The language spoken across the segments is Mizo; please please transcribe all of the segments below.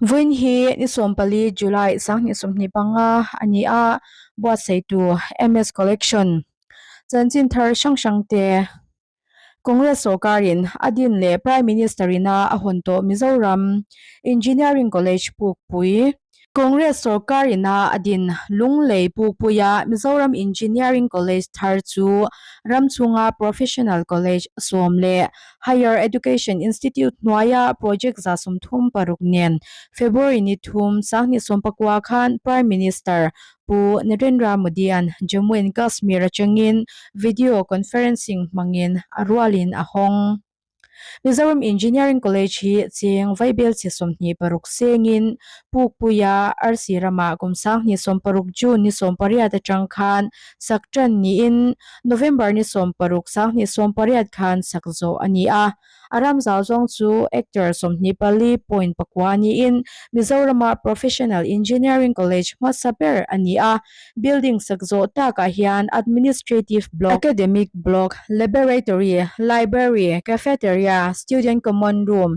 Vawiin hi ni sawm pali, July, sanghnih sawmhnih panga a ni a, buatseitu MS Collection chanchin thar hrang hrang te Congress sawrkarin a din leh Prime Minister in a a hawn tawh Mizoram Engineering College pukpui, Congress sawrkar in a a din Lunglei pukpui a Mizoram Engineering College thar chu ram chhunga Professional College sawm leh Higher Education Institute hnuaia project za sumthum paruk nen February ni thum sang ni sawmpakua khan Prime Minister Pu Narendra Modian Jammu and Kashmir atangin video conferencing hmangin a rualin a hawng. Mizoram Engineering College hi cheng vaibel chi sawmhnih paruk sengin pukpuia arsi rama kum sang ni sawmparuk June ni sawmpariat atang khan sak ṭan niin November ni sawm paruk sanghnih sawm pariat khan sak zawh a ni a. A ram zau zawng chu actor sawmhnih pali point pakua niin Mizorama Professional Engineering College hmasa ber a ni a. Building sak zawh takah hian administrative block, academic block, laboratory, library, cafeteria, student common room,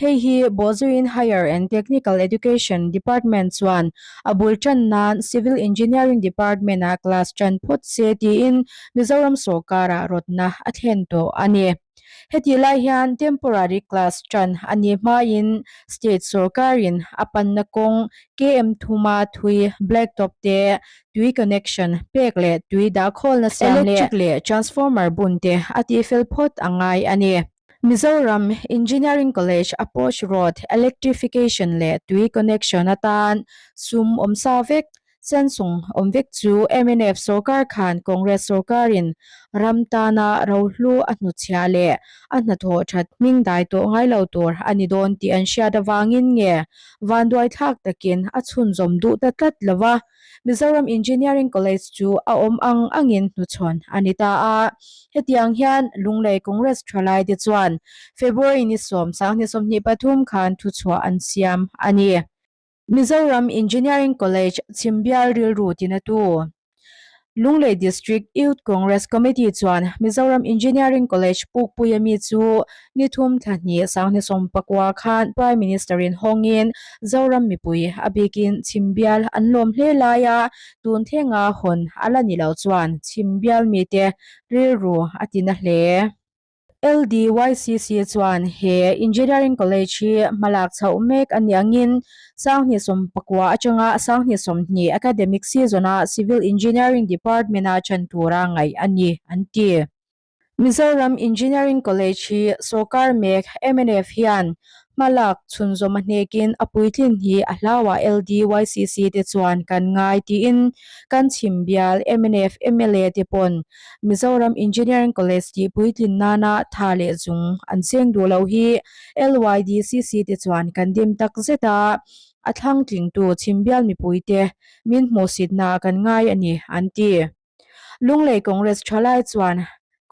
Hei hi Bawlzuiin Higher and Technical Education Department chuan a bul tan nan Civil Engineering Department-a class tan phawt se tiin Mizoram sawrkara rawtna a thlen tawh a ni. Heti lai hian temporary class tan a nih hmain state sawrkarin a panna kawng KM Thuma thui, blacktop te, tui connection pek leh tui dah khawlna siam leh electric leh transformer bun te a tih fel phawt a ngai a ni. Mizoram Engineering College Approach Road Electrification leh Tui Connection atan sum awm sa vek, sensung awm vek chu mnf sorkar khan Congress sorkarin ram tana rohlu a hnuchhiah leh a hnathawh that hmingdai tawh ngailo tur a ni dawn tih an hriat avangin nge vanduaithlak takin a chhunzawm duh ta tlat lova. Mizoram Engineering College chu a awm ang angin hnuchhawn a ni ta a. Hetiang hian Lunglei Congress thalai te chuan February ni sawm sang ni sawmhnih pathum khan thuchhuah an siam a ni. Mizoram Engineering College chhimbial rilru tinatu Lunglei District Youth Congress Committee chuan Mizoram Engineering College pukpui a mi chu ni thum thla hni sang hne sawm pakua khan Prime Minister in hawngin Zoram mipui a bikin chhim bial an lawm hle lai a, tun thenga hawn a la ni lo chuan chhim bial mite rilru a ti na hle. LDYCC chuan he Engineering College hi hmalak chhoh mek a ni angin sanghnih sawm pakua atanga sanghnih sawmhnih academic season-a Civil Engineering Department-a ṭhen tura ngaih a ni, an ti. Mizoram Engineering College hi sawrkar mek, MNF, hian Hma lak chhunzawm a hnekin a puitlin hi a hlauah LDYCC te chuan kan ngai tiin kan chhim bial mnf, mla te pawn Mizoram Engineering College tih puitlin nana tha leh chung an cheng duh loh hi LYDCC te chuan kan dim tak zet a, a thlangtlingtu chhim bial mipuite min hmuhsitna kan ngai a ni, an ti. Lunglei Congress tha lai chuan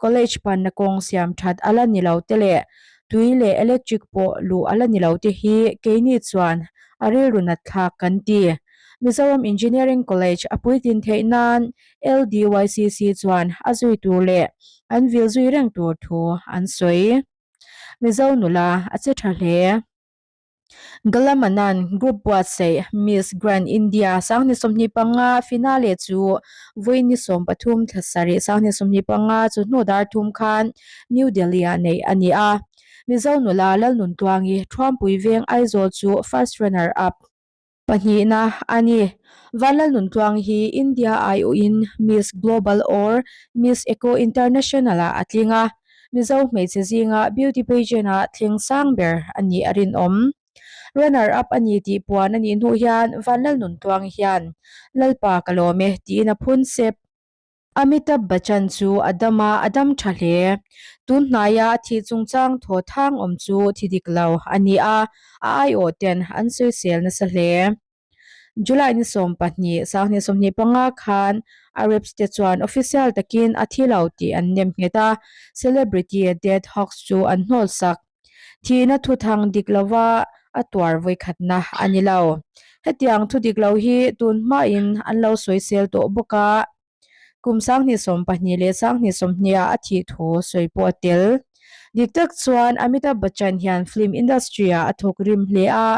College panna kawng siam that a la ni lo te leh tui leh electric pawh luh a la ni lo te hi keini chuan a rilru natthlak kan ti. Mizoram Engineering College a puitlin theih nan LDYCC chuan a zui tur leh an vil zui reng tur thu an sawi. Mizo nula a che tha hle. Galamanan, Group Buatsaih, Miss Grand India, Sanghni sawmhnih panga, Finale chu Vawiini sawm pathum thla sarih Sanghni sawmhnih panga chu hnu dar thum khan New Delhi-ah neih a ni a. Mizo nula Lalnuntluangi, Thuampui Veng Aizawl chu First Runner Up, Pahnihna a ni. Vanlal Nuntluang hi India ai uhin Miss Global or Miss Eco International ah a tling a. Mizo hmeichhe zinga beauty pageant ah thleng sang ber a nih a rinawm. Runner up a ni tih puan a nih hnuh hian Vanlal Nuntluang hian Lalpa ka lawm e tiin a phun sep. Amitabh Bachchan chu a dam a, a dam tha hle. Tun hnaia a thih chungchang thaw thang awm chu thi dik lo a ni a, a aiawh ten an sawisel nasa hle. July ni sawm pahnih, sanghnih sawmhnih panga khan Arabs te chuan official takin a thi lo tih an nem nghet a, celebrity dead hoax chu an hnawlsak. Thihna thuthang dik lova a tuar vawikhatna a ni lo. Hetiang thu dik lo hi tun hmain an lo sawisel tawh bawk a, kum sanghnih sawm pahnih leh sanghnih sawmhniha a thih thu sawi pawh a tel. Dik tak chuan Amitabh Bachchan hian film industry-ah a thawk rim hle a,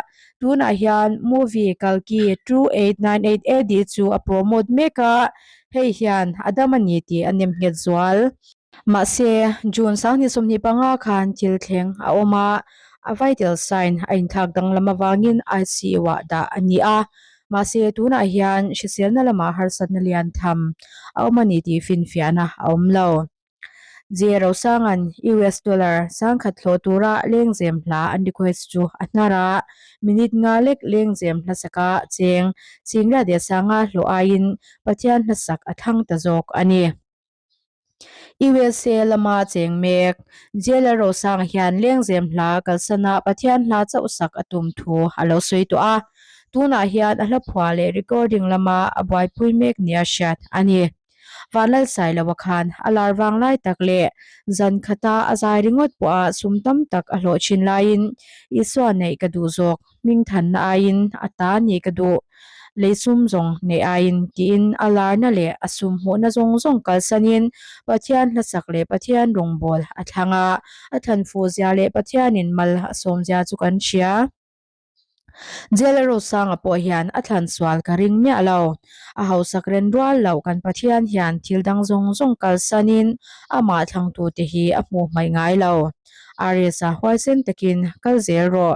tunah hian movie Kalki two eight nine eight AD chu a promote mek a, hei hian a dam a ni tih a nem nghet zual. Mahse, June Sangni sawmhnih panga khan thil thleng a awm a, a vital sign a inthlak danglam avangin ICU ah dah a ni a. Mahse, tunah hian hriselna lama harsatna lian tham a awm a ni tih finfiahna a awm lo. Zia Rosanga'n US dollar sangkhat thlawh tura lengzem hla an request chu a hnar a, minute nga lek lengzem hlasak a cheng, Chingliah Dehsanga hlawh aiin Pathian hlasak a thlang ta zawk a ni. I wel se lama cheng mek. Jailer Rosanga hian Lengzem hla kalsanah Pathian hla chauhsak a tum thu a lo sawi tawh a, tunah hian a hlaphua leh recording lama a buaipui mek nia hriat a ni. Vanlal Sailoa khan a lar vang lai tak leh zan khata a zai ringawt pawha sum tam tak a hlawh thin laiin, Isua neih ka duh zawk. hmingthanna aiin a ta ni ka duh, lei sum zawng neih aiin tiin a larna leh a sumhmuhna zawng zawng kalsanin Pathian hlasak leh Pathian rawngbâwl a thlang a, a thlanfuzia leh Pathianin mal a sawmzia chu kan hria. Jela Rosanga pawh hian a thlansual ka ring miah lo, a hausak ren rual loh kan Pathian hian thil dang zawng zawng kalsanin amah thlangtute hi a hmuh hmaih ngai lo. Aries-a huaisen takin kal zel rawh.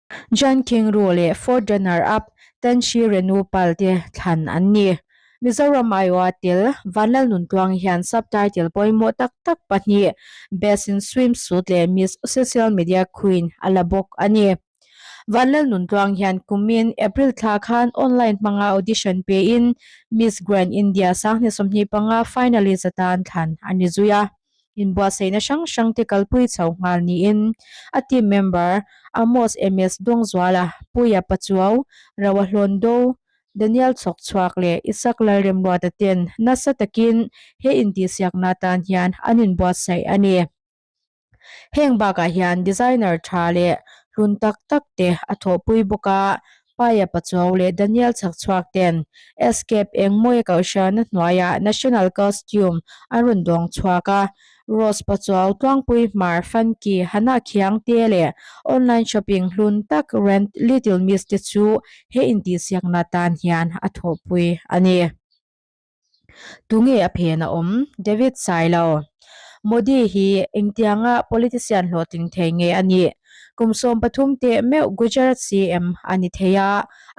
Jan Khengruu leh Fourth Runner-up Tan Shri Renu Pal te thlan an ni. Mizoram Iowa tel Van Lalnuntluang hian Subtitle pawimawh tak tak pahnih, Best in Swimsuit leh Miss Social Media Queen, a la bawk a ni. Van Lalnuntluang hian kumin April thla khan online hmanga audition pein Miss Grand India Sanghne sawmhnih panga finalist ata an thlan a ni zui a. Inbuahsaihna hrang hrangte kalpui chho nghal niin a team member Amos Emes Dawngzuala, Puia Pachuau, Rawa Hlawndaw, Daniel Chhawk Chhuak leh Isaac Lalremluata ten nasa takin he intihsiakna tan hian an inbuatsaih a ni. Heng bakah hian designer tha leh hlun tak takte a thawhpui bawk a, Paia Pachuau leh Daniel Chhakchhuak ten Escape engmawia Kalhriana hnuaia National Costume an rawn dawng chhuak a, Rose Pachuau, Tluangpui Hmar, Funky, Hana Khiang te leh Online Shopping hlun tak Rent, Little Miss te chu he intihsiakna tan hian a thawhpui a ni. Tunge a phen a awm? David Sailo, Modi hi engtianga politician hlawhtling thei nge a nih? Kum sawm pathum teh meuh Gujarat CM a ni thei a,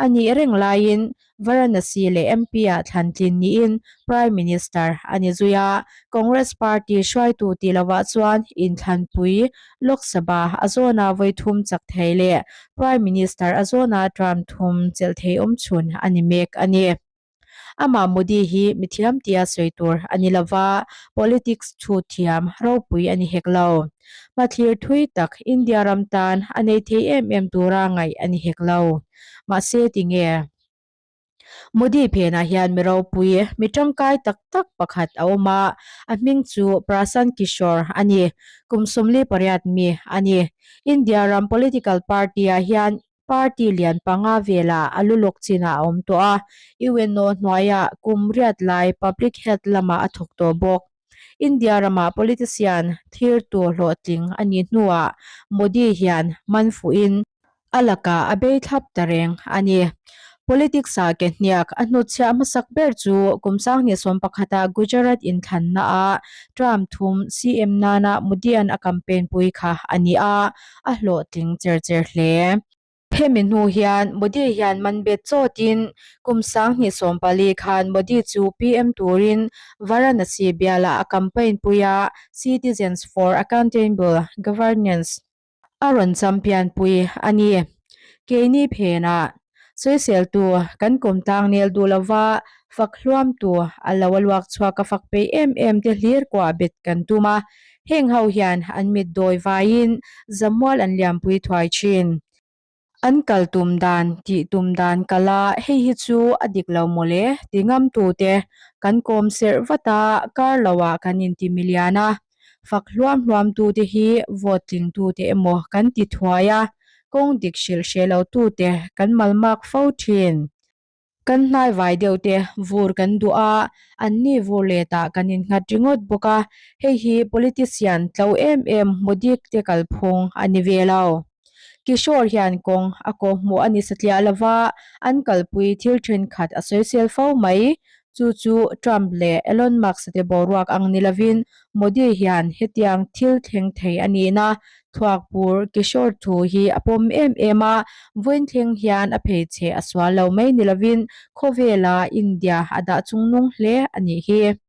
a nih reng laiin Varanasi leh MP-ah thlantlin niin Prime Minister a ni zui a, Congress Party hruaitu tih lovah chuan inthlanpui Lok Sabha a zawna vawi thum chak thei leh Prime Minister a zawna tram thum chelh thei awm chhun a ni mek a ni. Amah Modi hi mithiam tia sawi tur a ni lo va, politics thu thiam ropui a ni hek lo. Hmathlir thui tak India ram tan a nei thei em em tura ngaih a ni hek lo. Mahse tinge? Modi phenah hian mi ropui, mi tangkai tak tak pakhat a awm a, a hming chu Prashant Kishore a ni. Kum sawmli pariat mi a ni. India ram political party-ah hian Party lian panga vela a lu lawk chinah a awm tawh a, i ueno hnuaia kum riat lai public health lama a thawk tawh bawk. India ramah politician thlir tur hlawhtling a nih hnuah Modi hian man fuhin a laka a bei thlap ta reng a ni. Politics a ke hniak a hnutchhiah hmasak ber chu kum sanghnih sawm pakhata Gujarat inthlannaah Trump thum CM nana Modi-a'n a campaign pui kha a ni a, a hlawh tling cher cher hle. Hemi hnu hian Modi hian man bet chawtin kum sang hnih sawm pali khan Modi chu PM turin Varanasi bialah a campaign pui a, Citizens for Accountable Governance a rawn champion pui a ni. Keini phenah Sawiseltu kan kawm tlang nel duh lo va, fak hluamtu a lo a luak chhuak a fak pei em em te hlir kuah a bet kan tum a, heng ho hian an mit dawi vaiin zamual an liampui thuai thin. An kal tum dan, tih tum dan kal a, hei hi chu a dik lo maw le? ti ngamtute kan kawm serh vat a, kar lo ah kan inti mi lian a. Fak hluam hluam tu te hi vote tling tu te emaw kan ti thuai a, kawng dik hrilh hreh lo tu te kan malmak fo thin. Kan hnaivai deuh te vur kan duh a, an ni vur let ah kan in nghat ringawt bawk a, hei hi politician tlo em em hmudik te kalphung a ni ve lo. Kishore hian kawng a kaw hmuh a ni satliah lova, an kalpui thil thenkhat a sawi sel fo mai. Chu chu Trump leh Elon Musk te boruak ang ni lovin Modi hian hetiang thil thleng thei a nih na thuak bur Kishore thu hi a pawm em em a, vawiin thleng hian a phei che a sual lo mai ni lovin khawvela India a dah chung nung hle a nih hi.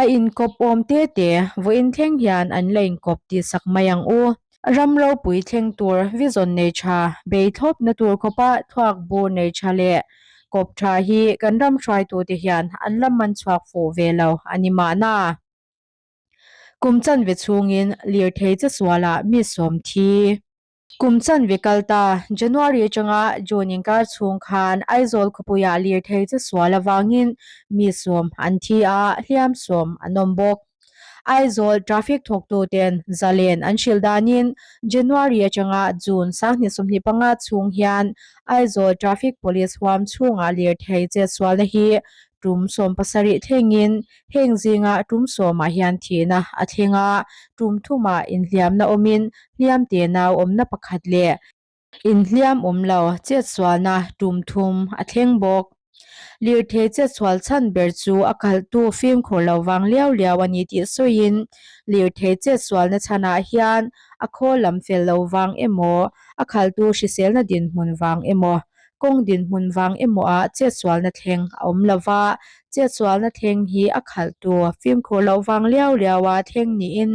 A inkawp awm te te, vawiin thleng hian an la inkawp tihsak mai ang u. Ram ropui thleng tur, vizawn nei tha, bei thlawpna tur khawpa thluak bu nei tha leh kawp tha hi kan ram hruaitute hian an la man chhuak fuh ve lo a ni mahna, kum chanve chhungin lirthei che sualah mi sawmthi. Kum chanve kal ta, January atanga June inkar chhung khan Aizawl khawpuiah lir thei che sual avangin mi sawm an thi a, hliam sawm an awm bawk. Aizawl traffic thawktuten Zalen an hrilh danin January atanga June sanghnih sawmhnih panga chhung hian Aizawl Traffic Police huam chhungah lir thei che sualna hi tum sawm pasarih thlengin Heng zingah tum sawmah hian thihna a thleng a, tum thumah inhliamna awmin hliamte nau awmna pakhat leh. Inhliam awm lo chetsualna tum thum a thleng bawk. Lirthei chetsual chhan ber chu a kalhtu fimkhur lo vang liau liau a ni tih sawiin lirthei chetsualna chhanah hian a khawl lam fel lo vang emaw, a khaltu hriselna dinhmun vang emaw, Kawng dinhmun vang emawah chetsualna thleng a awm lo va, chetsualna thleng hi a khalhtu fimkhur loh vang liau liaua thleng niin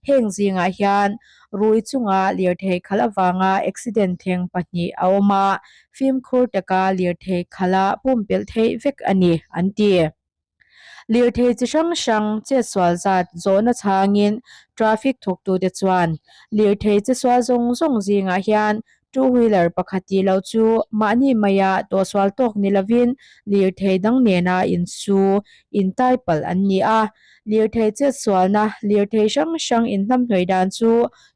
heng zingah hian rui chunga lirthei khalh avanga accident thleng pahnih a awm a, fimkhur taka lirthei khalha pumpelh theih vek a ni, an ti. Lirthei chi hrang hrang chetsual zat zawhna chhangin traffic thuktute chuan lirthei chesual zawng zawng zingah hian two wheeler pakhat tih loh chu mahni maia tawhsual tawk ni lovin lirthei dang nena in su in tai palh an ni a. Lirthei chetsualna lirthei hrang hrang in hnamhnawi dan chu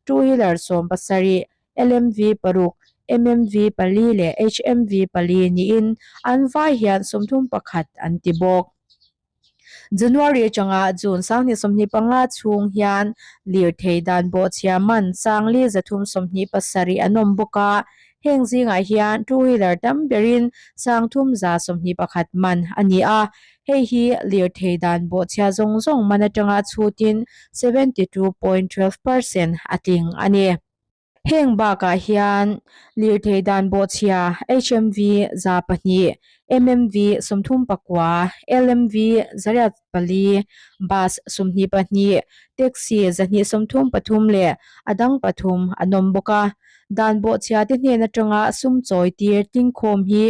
two wheeler sawm pasarih LMV paruk, MMV pali leh HMV pali niin an vai hian sawmthum pakhat an ti bawk. January atanga June sanghnih sawmhnih panga chhung hian lirthei dan bawhchhia man sangli zathum sawmhnih pasarih an awm bawk a, heng zingah hian two wheeler tam berin sangthum za sawmhnih pakhat man a ni a, hei hi lirthei dan bawhchhia zawng zawng man atanga chhutin seventy two point twelve percent a tling a ni. Heng bakah hian lirthei dan bawhchhia HMV za pahnih, MMV sawmthum pakua, LMV zariat pali, bus sumhnih pahnih, taxi zahnih sawmthum pathum leh a dang pathum an awm bawk a. Dan bawhchhia te hnen atanga sum chawi tir tlingkhawm hi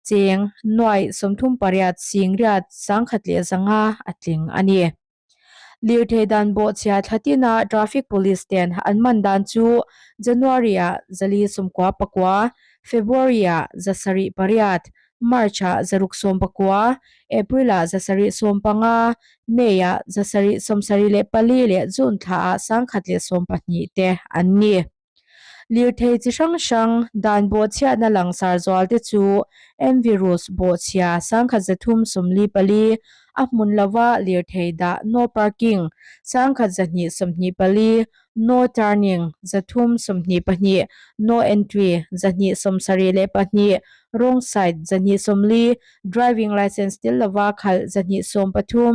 cheng nuai sawmthum pariat sing riat sangkhat leh zanga a tling a ni. Lirthei dan bawhchhiah thlatina Traffic Police ten an man dan chu January-ah zali sawmkua pakua, February-ah za sarih pariat, March-ah za ruk sawm pakua, April-ah za sarih sawm panga, May-ah za sarih sawmsarih leh pali leh June thlaah sangkhat leh sawmpahnih te an ni. Lirthei chi hrang hrang, dan bawhchhiahna langsar zual te chu en virus bawhchhia sangkhat ze thum sawmli pali, a hmun lova lirthei dah, no parking, sangkhat ze hnih sawmhnih pali, no turning, ze thum sawmhnih pahnih, no entry, ze hnih sawm sarih leh pahnih, wrong side, ze hnih sawmli, driving licence til lova khalh, ze hnih sawm pathum,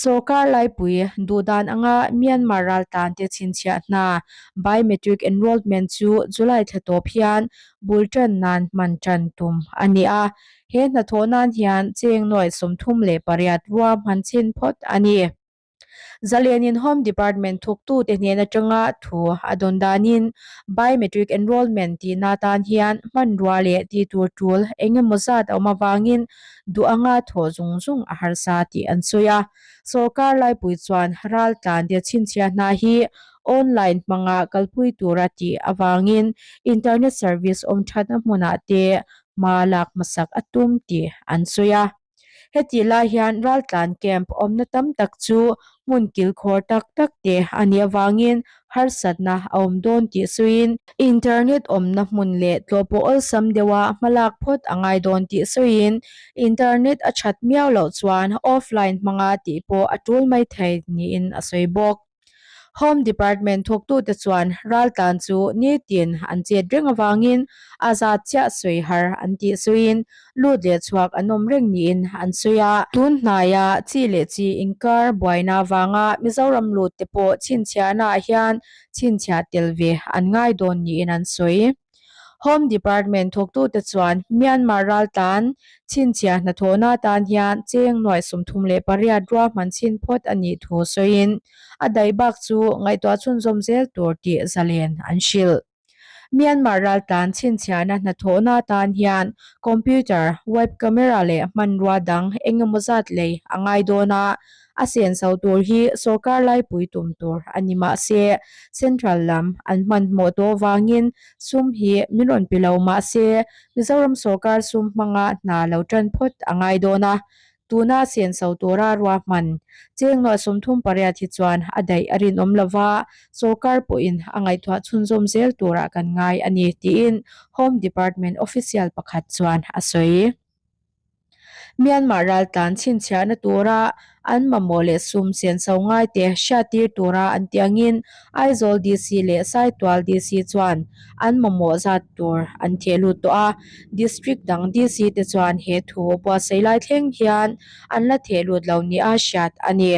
Sorkar laipui duh dan anga Myanmar raltlante chhinchhiah hna Biometric Enrollment chu July thla tawp hian bul tan nan hman tan tum a ni a. He hnathawh nan hian cheng nuai sawmthum leh pariat rua hman chin phawt a ni. Zalianin Home Department thuktute hnen atanga thu a dawn danin Biometric Enrollment tihna tan hian hmanrua leh ti tur tul eng emaw zat a awm avangin duh anga thawh zung zung a harsa tih an sawi a. Sorkar laipui chuan ral tlandia chhinchhiah hna hi online hmanga kalpui tur a tih avangin internet service awm thatna hmunah te hma lak hmasak a tum tih an sawi a. Heti lai hian ral tlan camp awmna tam tak chu hmun kilkhawr tak tak te a nih avangin harsatna a awm dawn tih sawiin internet awmna hmun leh tlawhpawh awlsam deuha hmalak phawt a ngai dawn tih sawiin internet a that miau loh chuan offline hmanga tih pawh a tul mai thei niin a sawi bawk. Home Department thuktute chuan raltlan chu nirtin an chet reng avangin a zat chiah sawi har an tih sawiin lut leh chhuak an awm reng niin an sawi a. Tun hnaia chi leh chi inkar buaina avanga Mizoram lutte pawh chhinchhiahnaah hian chhinchhiah tel ve an ngai dawn niin an sawi. Home Department thuktute chuan Myanmar ral tan chhinchhiah hnathawhna atan hian cheng nuai sumthum leh pariat ruahman chhin phawt a nih thu sawiin a daih bak chu ngaihtuah chhunzawm zel tur tih zalen an hrilh. Myanmar raltlan chhinchhiahna hnathawhna atan hian computer, web camera leh hmanrua dang engemaw zat lei a ngai dawn a, a sian so tur hi sorkar laipui tum tur a ni mah se, Central lam an hmanhmawh tawh vangin sum hi min rawn pi lo mah se, Mizoram sorkar sum hmanga hna lo tan phawt a ngai dawn a, tuna a sian so tura ruahman chengnuah sawmthum pariat hi chuan a daih a rinawm lo va, sorkar pawhin a ngaihtuah chhunzawm zel tura kan ngai a ni, tiin Home Department official pakhat chuan a sawi. Myanmar ral tlan chhinchhiahna tura an mamawh leh sum sian so ngaite hriattir tura an ti angin Aizawl DC leh Saitual DC chuan an mamawh zat tur an cheh lut tawh a, District dang DC te chuan he thu buatsaih lai thleng hian an la theh lut lo nih a hriat a ni.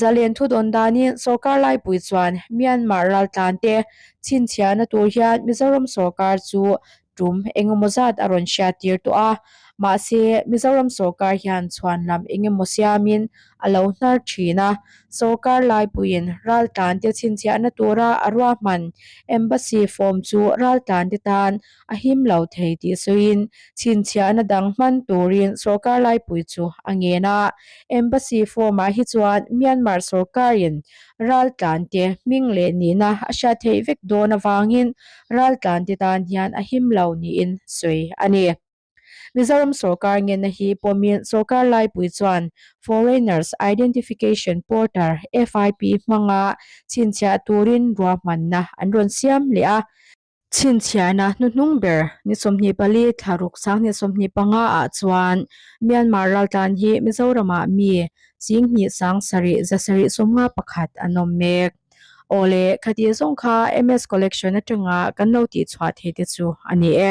Zalen thudawn danin sorkar laipui chuan Myanmar raltlante chhinchhiahna tur hian Mizoram sorkar chu tum engemaw zat a rawn hria tir tawh a, mahse Mizoram sawrkar hian chhuanlam engemaw siamin a lo hnar thin a. Sawrkar laipuiin raltlante chhinchhiahna tura a ruahman Embassy form chu raltlante tan a him lo thei tih sawiin chhinchhiahna dang hman turin sawrkar laipui chu a ngen a. Embassy form-ah hi chuan Myanmar sawrkarin raltlante hming leh nihna a hria theih vek dawn avangin ral tlante tan hian a him lo niin sawi a ni. Mizoram sorkar ngenna hi pawmin sorkar laipui chuan Foreigners Identification Porter, FIP, hmanga chhinchhiah turin ruahmanna an rawn siam leh a. Chhinchhiahna hnuhnung ber ni sawmhnih pali thlaruk sanghnih sawmhnih panga ah chuan Myanmar ral tlan hi Mizoramah mi Singhnih sang sarih za sarih sawmnga pakhat an awm mek. Awle, khatir zawng kha MS Collection atanga kan lo tih chhuah thei te chu a ni e.